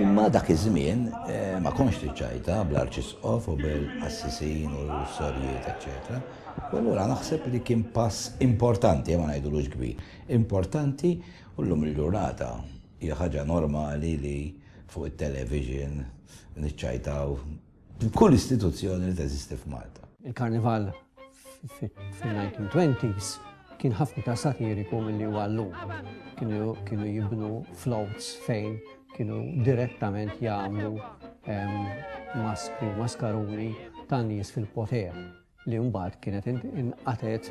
Imma dak iż-żmien ma kontx trid ċajta bl-arċisqof u bil-qassisin u s-sorjiet eċċetera. U allura naħseb li kien pass importanti, ma ngħidulux kbir, importanti u llum il-ġurnata hija ħaġa normali li fuq it-television niċċajtaw Kull istituzzjoni li teżisti f'Malta. Il-Karnival fil-1920s kien ħafna ta' satiriku milli huwa llum. Kienu jibnu floats fejn kienu direttament jagħmlu maskri u maskaruni ta' nies fil-poter. li mbagħad kienet inqatgħet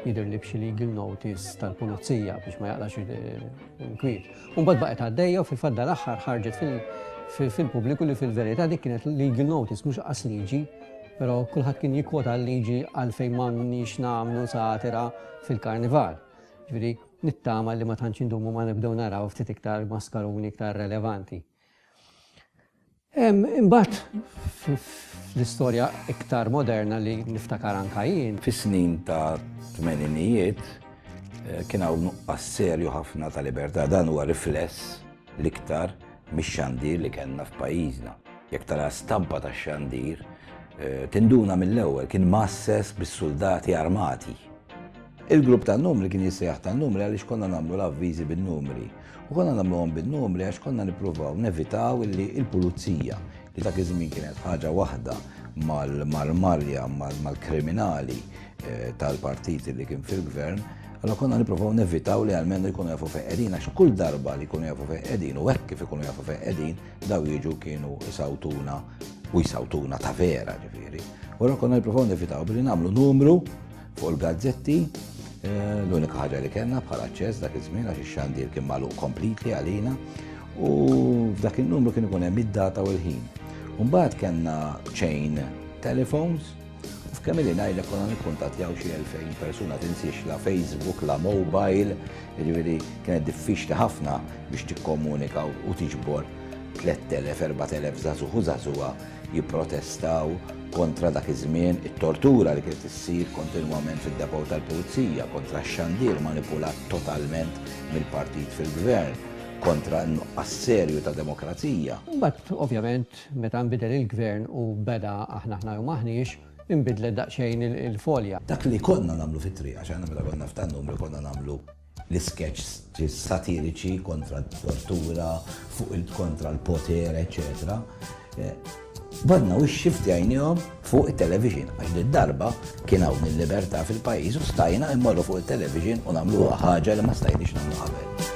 jidhirli b'xi legal notice tal-pulizija biex ma jaqlax il-kwiet. U mbagħad baqgħet għaddejja u fil-fatt dal-aħħar ħarġet fil-pubbliku li fil-verità dik kienet legal notice mhux qas liġi, però kulħadd kien jikkwota l-liġi għalfejn m'għandniex nagħmlu satira fil-karnival. Ġifieri nittama li ma tantx indumu ma nibdew naraw ftit iktar maskaruni iktar relevanti. Imbagħad fl-istorja iktar moderna li niftakar anka jien. Fis-snin ta' tmeninijiet eh, kien hawn nuqqas serju ħafna ta' libertà dan huwa rifless l-iktar mix-xandir li kellna f'pajjiżna. Jekk tara stampa ta' xandir, eh, tinduna mill-ewwel kien masses bis-suldati armati. Il-grupp tan-numri kien jissejjaħ tan-numri għaliex konna nagħmlu l-avviżi bin-numri. U konna nagħmluhom bin-numri għax konna nippruvaw nevitaw li l-pulizija li dak iż-żmien kienet ħaġa waħda mal-marja mal-kriminali eh, tal-partiti li kien fil-gvern, allora konna nippruvaw nevitaw li għalmenu jkunu jafu feqedin, għax kull darba li jkunu jafu feqedin u hekk kif ikunu jafu feqedin, daw jiġu kienu isawtuna u jisawtuna ta' vera ġifieri. Allora konna nippruvaw nevitaw billi nagħmlu numru Fuq il-gazzetti, eh, l-unika ħaġa li kellna bħala ċess dak iż-żmien għax ix-xandir kien magħluq kompletli għalina u f'dak in-numru kien ikun hemm id-data u l-ħin. Mbagħad kellna chain telephones Kemm li ngħidha konna nikkuntattjaw xi 2000 persuna tinsiex la Facebook, la mobile, jiġifieri kienet diffiċli ħafna biex tikkomunika u tiġbor 3000, 4000 żagħżugħ u żagħżugħa jipprotestaw kontra dak iż-żmien it-tortura li kienet issir kontinwament fid-depot tal-Pulizija, kontra x-xandir manipulat totalment mill-partit fil-Gvern, kontra n-nuqqas serju ta' demokrazija. Imbagħad, ovvjament, meta nbidel il-Gvern u beda aħna aħna jew m'aħniex, inbidlet daqsxejn il-folja. Dak li konna nagħmlu fit-triq, għax aħna meta konna f'tan-numri konna nagħmlu. l-iskeċċis satiriċi kontra t-tortura, fuq il kontra l-poter, eċċetera Badna u xifti għajnijom fuq il-television, għax di darba kien hawn il-libertà fil-pajjiż u stajna immorru fuq il-television u nagħmlu ħaġa li ma stajniex nagħmlu qabel.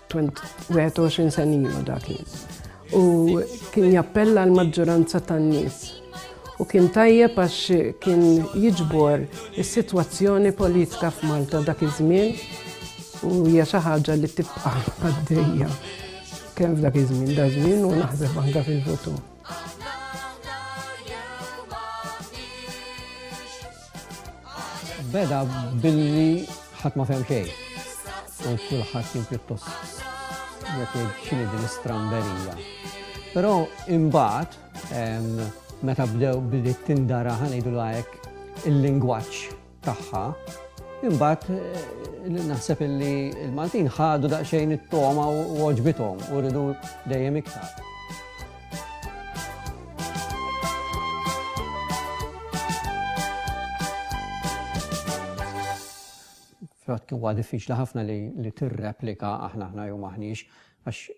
Kont 21 sen ilu dak u kien jappella l-maġġoranza tan-nies u kien tajjeb għax kien jiġbor is-sitwazzjoni politika f'Malta dak iż-żmien u hija xi ħaġa li tibqa' għaddejja kemm f'dak iż-żmien da żmien u naħseb anke fil-futur. Beda billi ħadd ma fem xejn. U kulħadd kien pjuttost jekk xini din istramberija. Però imbagħad meta bdew billi tindara ħanejdu lajk il-lingwaġġ tagħha, imbagħad eh, naħseb illi l-Maltin ħadu daqsxejn it-toma u oġbithom u rridu dejjem iktar. Frat huwa diffiċli ħafna li, li tirreplika aħna aħna jew maħniex għax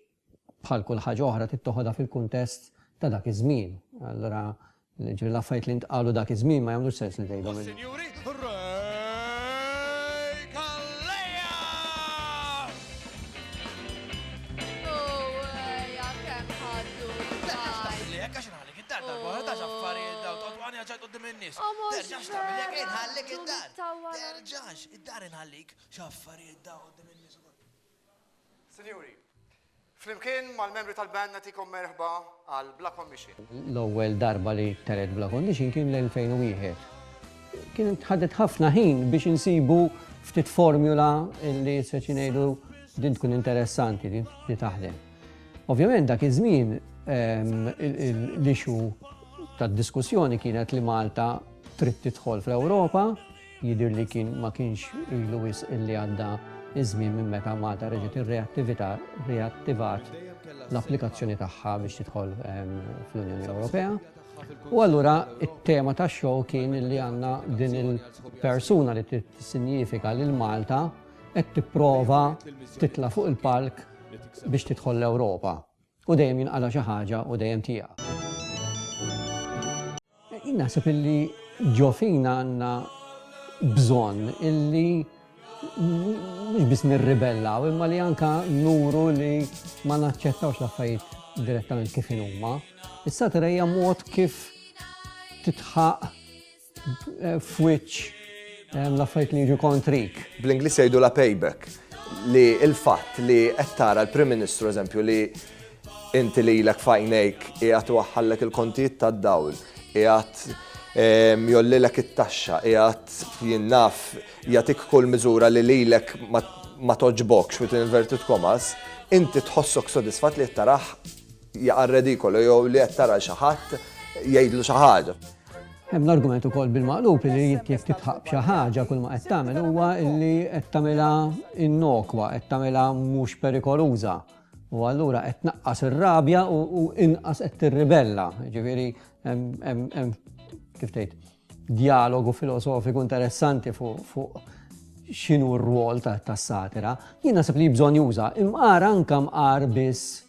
bħal kull ħaġa oħra tittoħodha fil-kuntest ta' dak iż-żmien. Allura Jiġifieri l-affarijiet li ntqalu dak iż-żmien ma jagħmlux sens li tgħidhom illum. Is-Sinjuri Ray Calleja! Sinjuri, flimkien mal-membri tal-band nagħtikom merħba għal Bla Kondixin. L-ewwel darba li teret Bla Kondixin kien l-2001. Kienet ħadet ħafna ħin biex insibu ftit formula li se xi ngħidu din tkun interessanti li taħdem. Ovvjament dak iż-żmien l-issue tad-diskussjoni kienet li Malta trid tidħol fl-Ewropa, Jidhir li kien ma kienx ilu wisq illi għadda ż-żmien minn meta Malta reġgħet irreattivita riattivat l-applikazzjoni tagħha biex tidħol fl-Unjoni Ewropea. U allura it-tema tax-show kien illi għandna din il-persuna li tissinjifika lil Malta qed tipprova titla' fuq il-palk biex tidħol l-Ewropa. U dejjem jinqala' xi ħaġa u dejjem tieqa'. Jien naħseb illi ġo fina għandna bżonn illi mhux biss nirribellaw imma li anke nuru li ma naċċettawx l-affarijiet direttament kif inhuma. Is-satira hija mod kif titħaq f'wiċċ l-affarijiet li jiġu kontrik. Bl-Ingliż jgħidu la payback li l-fatt li qed tara l-Prim Ministru eżempju li inti li lek fajnejk qiegħed waħħallek il-kontijiet tad-dawl, qiegħed ehm, jollilek it-taxxa, qiegħed jinnaf jagħtik kull miżura li lilek ma toġbokx fit inverted komas, inti tħossok sodisfat li qed taraħ Jaqa' redikolu jew li qed tara xi ħadd jgħidlu xi ħaġa. Hemm l-argument ukoll bil-maqlub li jekk titħaq b'xi ħaġa kull ma qed tagħmel huwa li qed tagħmilha innokwa, qed tagħmilha mhux perikoluża. U allura qed tnaqqas ir-rabja u inqas qed tirribella. Ġifieri hemm kif tgħid dialogu filosofiku interessanti fuq x'inhu r-rwol tas-satira. Jien naħseb li bżonn juża imqar anke mqar biss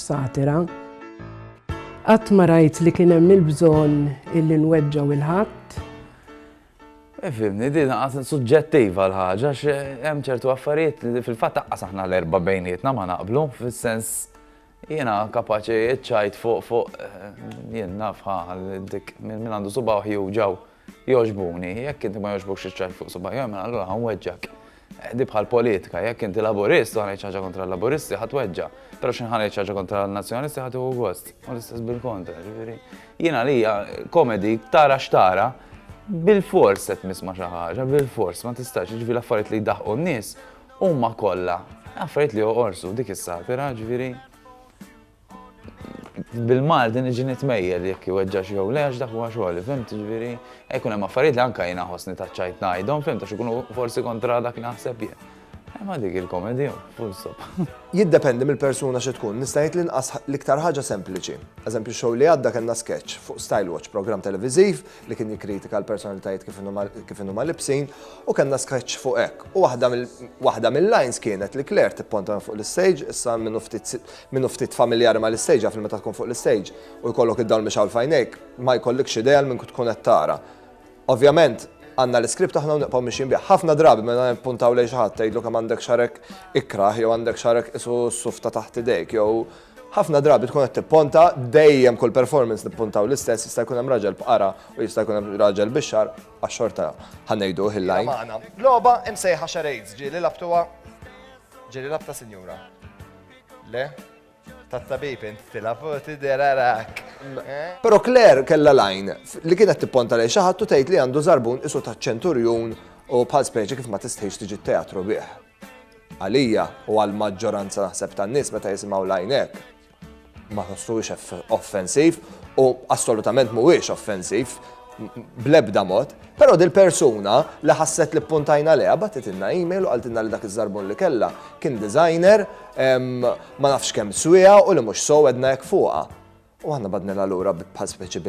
Satira, Qatt ma rajt li kien hemm il-bżonn illi nweġġgħu 'l ħadd. Ifhimni, din għad suġġettiva l-ħaġa għax hemm ċertu affarijiet li fil-fatt aqqas aħna l-erba' bejnietna ma naqblu fis-sens jiena kapaċi ċajt fuq fuq jien nafha dik minn għandu subaħ juġaw. Jogħġbuni, jekk inti ma jogħġbukx iċ-ċajt fuq subajjaj, mela allura ħanweġġak. Eh, di bħal politika, jekk inti laburist u ħanejt ħaġa kontra l-laburisti ħadd weġġa, però xi ħanejt ħaġa kontra l-nazzjonalisti ħadd uhu gost. U l-istess bil-kontra, ġifieri. Jiena li komedi tara x'tara, bil-fors qed nisma' xi ħaġa, bil-fors ma tistax, ġifieri l-affarijiet li jdaħqu n-nies huma kollha affarijiet li joqorsu dik is-satira, ġifieri Bil-Malti niġi nitmejjel jekk iweġġax jew le għax dak huwa xogħli, fimt? Ġifieri, hekk hemm affarijiet li anke jiena ħossni taċċajt ngħidhom, fimt, għax ikunu forsi kontra dak li naħseb jien. Imma dik il-komedi, full stop. Jiddependi mill-persuna xi tkun, nista' ngħid l-inqas l-iktar ħaġa sempliċi. Eżempju, x-show li għadda kellna sketch fuq Style Watch, programm televiżiv li kien jikkritika l-personalitajiet kif inhuma libsin, u kellna sketch fuq hekk. U waħda mill-lines kienet li Claire tipponta fuq l-istage, issa minnu ftit Min hu ftit familjari mal-istage jaf li meta tkun fuq l-istage u jkollok id-dawl mixgħul f'għajnejk, ma jkollikx idea għal min tkun qed tara. Ovvjament, għandna l-iskript aħna u nibqgħu mixjin bih. Ħafna drabi meta nippuntaw lejn xi ħadd tgħidlu kemm għandek xarek ikrah jew għandek xarek qisu s-suf ta' taħt idejk jew Ħafna drabi tkun qed tipponta, dejjem kull performance nippuntaw l-istess, jista' jkun hemm raġel b'qara u jista' jkun hemm raġel bix-xagħar, għax xorta ħa ngħiduh il-line. Hija magħna. Logħba imsejħa Charades ġieli labtuha ġieli labta sinjura. Le? Tat-tabib int tila fuq tiderarak. Eh? Pero Claire kella lajn li kienet tipponta lejn xi ħadd u tgħid li għandu żarbun isu ta' ċenturjun u bħal speċi kif ma tistħix tiġi teatru bih. Għalija u għal maġġoranza naħseb tan-nies meta jisimgħu lajnek. Ma tħossuhiex offensiv u assolutament mhuwiex offensiv blebda mod. Però dil-persuna li ħasset li ppuntajna leha bagħtitilna email u qaltilna li dak iż-żarbun li kellha kien designer ma nafx kemm swieha u li mhux sew għedna hekk fuqha. U aħna badnilha lura bħal speċi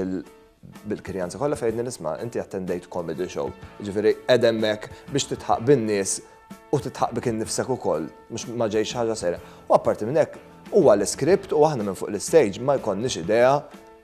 bil-kirjanza kollha fejn għedni nisma' inti attendejt comedy show. Ġifieri qed hemmhekk biex titħaq bin-nies u titħaq bik innifsek ukoll, mhux ma ġejx ħaġa serja. U apparti minn hekk, huwa l-iskript u aħna minn fuq l-istage ma jkollniex idea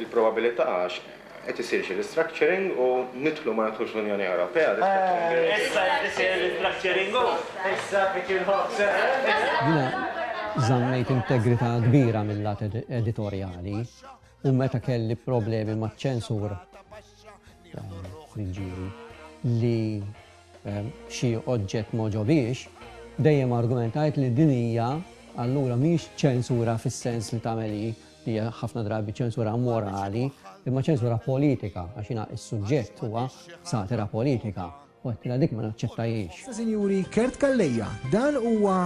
Il-probabilità għax qed isir xi restructuring u nidħlu ma nidħlux l-Unjoni Ewropea, restructuring bills. Issa qed isir restructuring u issa qed jinħobb sehem. Jiena żammejt integrità kbira mil-lat editorjali u meta kelli problemi maċ-ċensur ta' min ġieli li xi oġġett m'għoġobhiex, dejjem argumentajt li din hija allura mhix ċensura fis-sens li tagħmel hi Hija ħafna drabi ċensura morali, imma ċensura politika għax jiena s-suġġett huwa satira politika u għedtilha dik ma naċċettajhiex. Issa sinjuri Kurt Calleja, dan huwa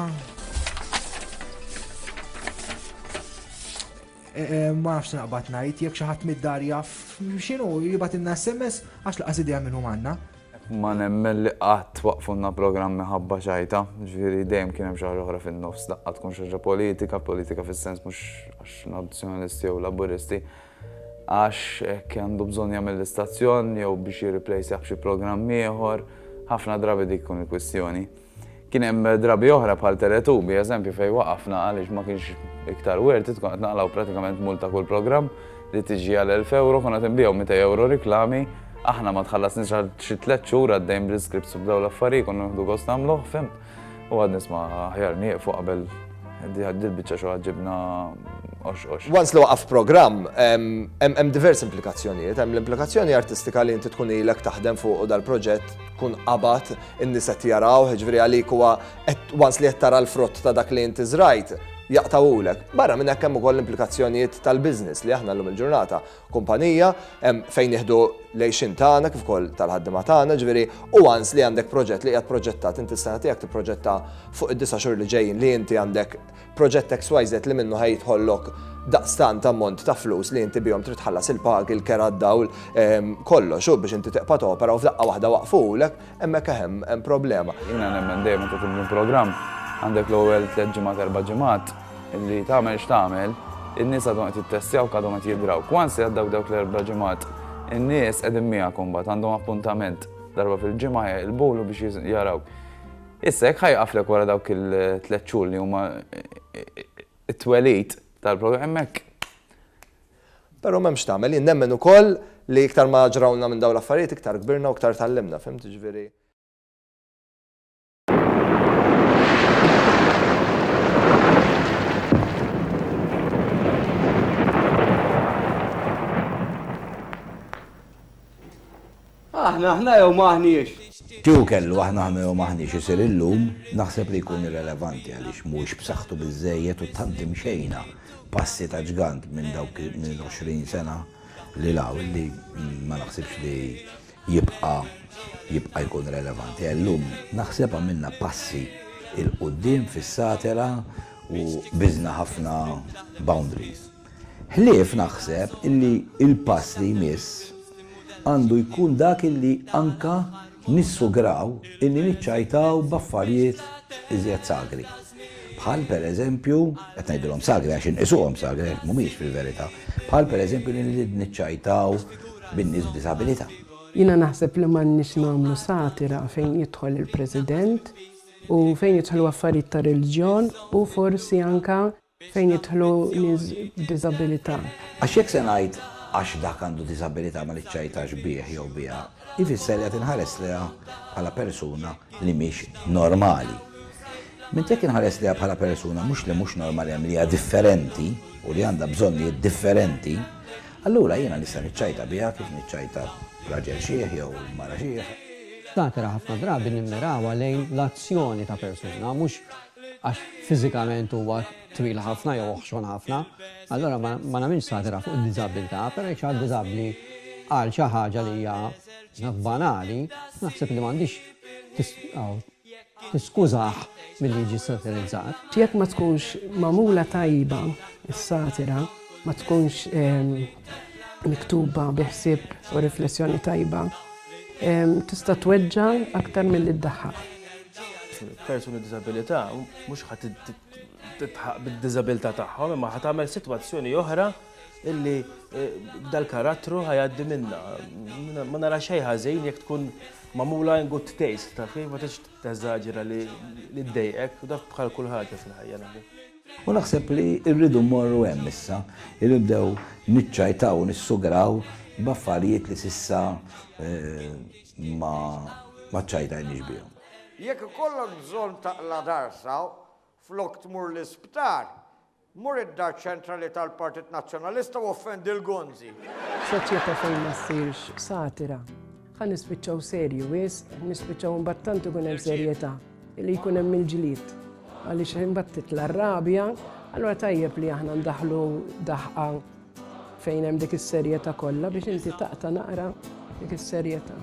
e, e, ma nafx naqbad ngħid jekk xi ħadd mid-dar jaf x'inhu jibgħat inna SMS għax laqas idea minn hum għandna. Ma nemmen li qatt waqqfulna programm minħabba xajta, ġifieri dejjem kien hemm xi ħaġa oħra fin-nofs, daqqa tkun xi ħaġa politika, politika fis-sens mhux għax Nazzjonalisti jew Laburisti, għax hekk għandu bżonn jagħmel l-istazzjon jew biex jirriplejsjah b'xi programm ieħor, ħafna drabi dik tkun il-kwistjoni. Kien hemm drabi oħra bħal Teletubi, eżempju, fejn waqafna għaliex ma kienx iktar worth it, kont qed naqlgħu pratikament mull ta' kull programm li tiġi għal 1000 euro, kont qed inbigħu 200 euro riklami, aħna ma tħallasniex għal xi tliet xhur għaddejn bl-iscripts u b'dawn l-affarijiet konna nieħdu gost nagħmluh, fim. U għad nisma' aħjar nieqfu qabel dil-biċċa xi ġibna ox-ox. Once li waqaf programm, hemm diversi implikazzjonijiet, hemm l-implikazzjoni artistika li inti tkun ilek taħdem fuq dal-proġett tkun qabad In-nies qed jarawh, jiġifieri għalik huwa qed once li qed tara l-frott ta' dak li inti żrajt, jaqtgħulek. Barra minn hekk hemm ukoll l-implikazzjonijiet tal-business li aħna llum il-ġurnata kumpanija hemm fejn nieħdu l-għixien tagħna kif ukoll tal-ħaddiema tagħna, jiġifieri u once li għandek proġett li qiegħed proġettat, inti s-sena tiegħek tipproġetta fuq id-disa' xhur li ġejjin li inti għandek proġett XYZ li minnu ħaj jidħollok daqstant ammont ta' flus li inti bihom trid tħallas il-pagi, il-kera d-dawl, ehm, kollox, u biex inti tiqpa' topera u f'daqqa waħda waqfulek, hemmhekk eħem hemm problema. Jiena nemmen dejjem inti tibni programm għandek l-ewwel tliet ġimgħat erba' ġimgħat li tagħmel x'tagħmel, in-nies għadhom qed jittestjaw għadhom qed jidraw. Kwansi għaddaw dawk l-erba' ġimgħat, in-nies qegħdin miegħek imbagħad għandhom appuntament darba fil-ġimgħa il-bulu biex jaraw. Issa jekk ħa jieqaflek wara dawk il-tliet xhur li huma t-twelid tal-programm hekk. Però m'hemmx tagħmel. Jien nemmen ukoll li iktar ma ġrawlna minn dawn l-affarijiet iktar kbirna u iktar tgħallimna, fhimt, jiġifieri. Aħna aħna jew m'aħniex? Kieku kellu aħna aħna jew m'aħniex isir illum, naħseb li jkun irrelevanti għaliex mhuwiex b'saħħtu biżżejjed u tant imxejna passi ta' ġgant minn dawk minn 20 sena 'l hawn li ma naħsibx li jibqa' jibqa' jkun relevanti għall-lum. Naħseb għamilna passi 'l quddiem fis-satela u biżna ħafna boundaries. Ħlief naħseb illi il-pass li jmiss għandu jkun dak illi anka nissugraw illi niċċajtaw b'affarijiet iżjed sagri. Bħal per eżempju, qed ngħidilhom sagri għax inqisuhom sagri għax mhumiex fil-verità, bħal per eżempju li niċċajtaw bin-nies b'diżabilità. Jiena naħseb li m'għandniex nagħmlu satira fejn jidħol il-President u fejn jidħlu affarijiet ta' reliġjon u forsi anka Fejn jidħlu nies b'diżabilità? Għax jekk se ngħid għax dak għandu diżabilità ma niċċajtax bih jew biha, jfisser li qed inħares lejha bħala persuna li mhix normali. Mentri jekk inħares lejha bħala persuna mhux li mhux normali hemm li hija differenti u li għandha bżonnijiet differenti, allura jiena nista' niċċajta biha kif niċċajta raġel xiħ jew mara xiħ. Ftakra ħafna drabi nimmirawha lejn l-azzjoni ta' persuna, mhux għax fiżikament huwa twil ħafna jew oħxon ħafna, allura ma nagħmilx satira fuq id-diżabbiltà, però jekk xi ħadd diżabbli qal xi ħaġa li hija naf banali, naħseb li m'għandhiex tiskużah milli jiġi satirizzat. Jekk ma tkunx magħmula tajba s-satira, ma tkunx miktuba bi ħsieb u riflessjoni tajba, tista' tweġġa' aktar milli ddaħħaq. persuni b'diżabilità mhux ħadd titħaq bid-diżabilità tagħhom imma ħadd tagħmel sitwazzjoni oħra illi eh, dal-karattru ħajaddi minna. Ma nara xejn ħażin jekk tkun mamula in good taste, ta' fi, ma tix teżaġera li d-dejqek, u dak bħal kull ħaġa fil-ħajja naħbi. U naħseb li rridu morru hemm issa, irribdew niċċajtaw, nissugraw b'affarijiet li sissa eh, ma ma ċċajtajniex bihom. Jekk ikollok bżonn taqla' darsa, flok tmur l-isptar, mur id-Dar Ċentrali tal-Partit Nazzjonalista u offendi l-gonzi. F'soċjetà fejn ma ssirx satira, ħa nispiċċaw serji wisq, nispiċċaw imbagħad tant ikun hemm serjetà. li jkun hemm il-ġlied għaliex imbagħad titla' r-rabja, allura tajjeb li aħna ndaħlu daħqa fejn hemm dik is-serjetà kollha biex inti taqta' naqra dik is-serjetà.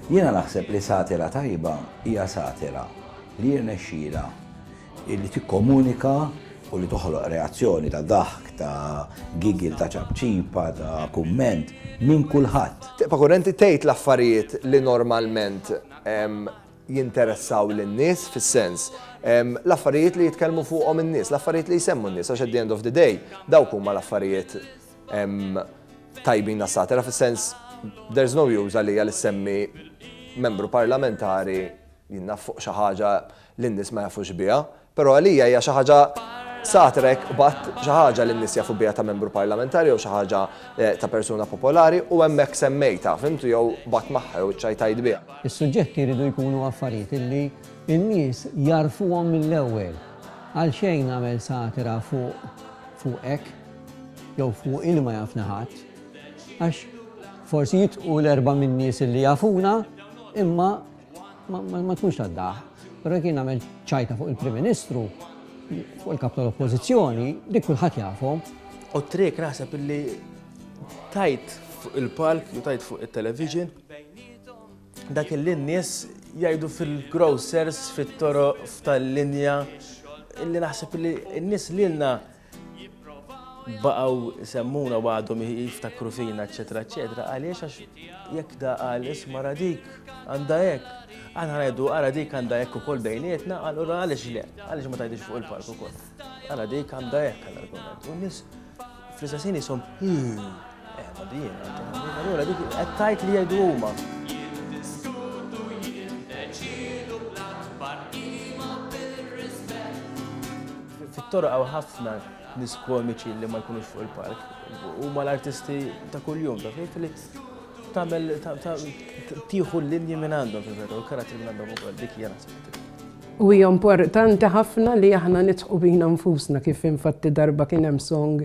Jiena naħseb li satira tajba hija satira li jirnexxilha li tikkomunika u li toħloq reazzjoni ta' daħk, ta' gigil, ta' ċapċipa, ta' kumment minn kulħadd. Tibqa' kurrenti tgħid l-affarijiet li normalment jinteressaw lin-nies fis-sens, l-affarijiet li jitkellmu fuqhom in-nies, l-affarijiet li jsemmu n-nies għax at the end of the day dawk huma l-affarijiet tajbin għas-satira fis-sens there's no use għalija li ssemmi membru parlamentari jien naf fuq xi ħaġa li n-nies ma jafux biha, Però għalija hija xi ħaġa satra jekk qbadt xi ħaġa li n-nies jafu biha ta' membru parlamentari jew xi ħaġa ta' persuna popolari u hemmhekk semmejtha, fhimtu, jew qbadt magħha jew iċċajtajt biha. Is-suġġetti jridu jkunu affarijiet li n-nies jagħrfuhom mill-ewwel. Għalxejn nagħmel satira fuq fuqek jew fuq il ma jafni ħadd. Għax forsi jitqu l-erbgħa min-nies li jafuna imma. Ma tkunx tad-daħq, però jekk jien nagħmel ċajta fuq il-Prim Ministru, fuq il-Kap tal-Oppożizzjoni, dik kulħadd jafhom. U t-trick naħseb illi tajt fuq il-palk u tajt fuq il-television dak illi n-nies jgħidu fil-grocers, fit-toro, f'tal-linja illi naħseb illi n-nies lilna baqgħu jsemmuna u għadhom jiftakru fina, eċetera, eċetera, għaliex għax jekk da qal isma' ra dik għandha hekk. Aħna ngħidu ara dik għandha hekk ukoll bejnietna, allura għaliex le, għaliex ma tgħidix fuq il-palk ukoll. Ara dik għandha hekk għal argument. U nies fl-istessin jisom Fit-toroq hawn ħafna nies komiċi li ma jkunux fuq il-palk. Huma l-artisti ta' kuljum, taf kif li tagħmel tieħu l-linji minn għandhom fil-verità u l-karattri minn għandhom ukoll dik hija naħseb it-triq. U hija importanti ħafna li aħna nidħqu bina nfusna kif infatti darba kien hemm song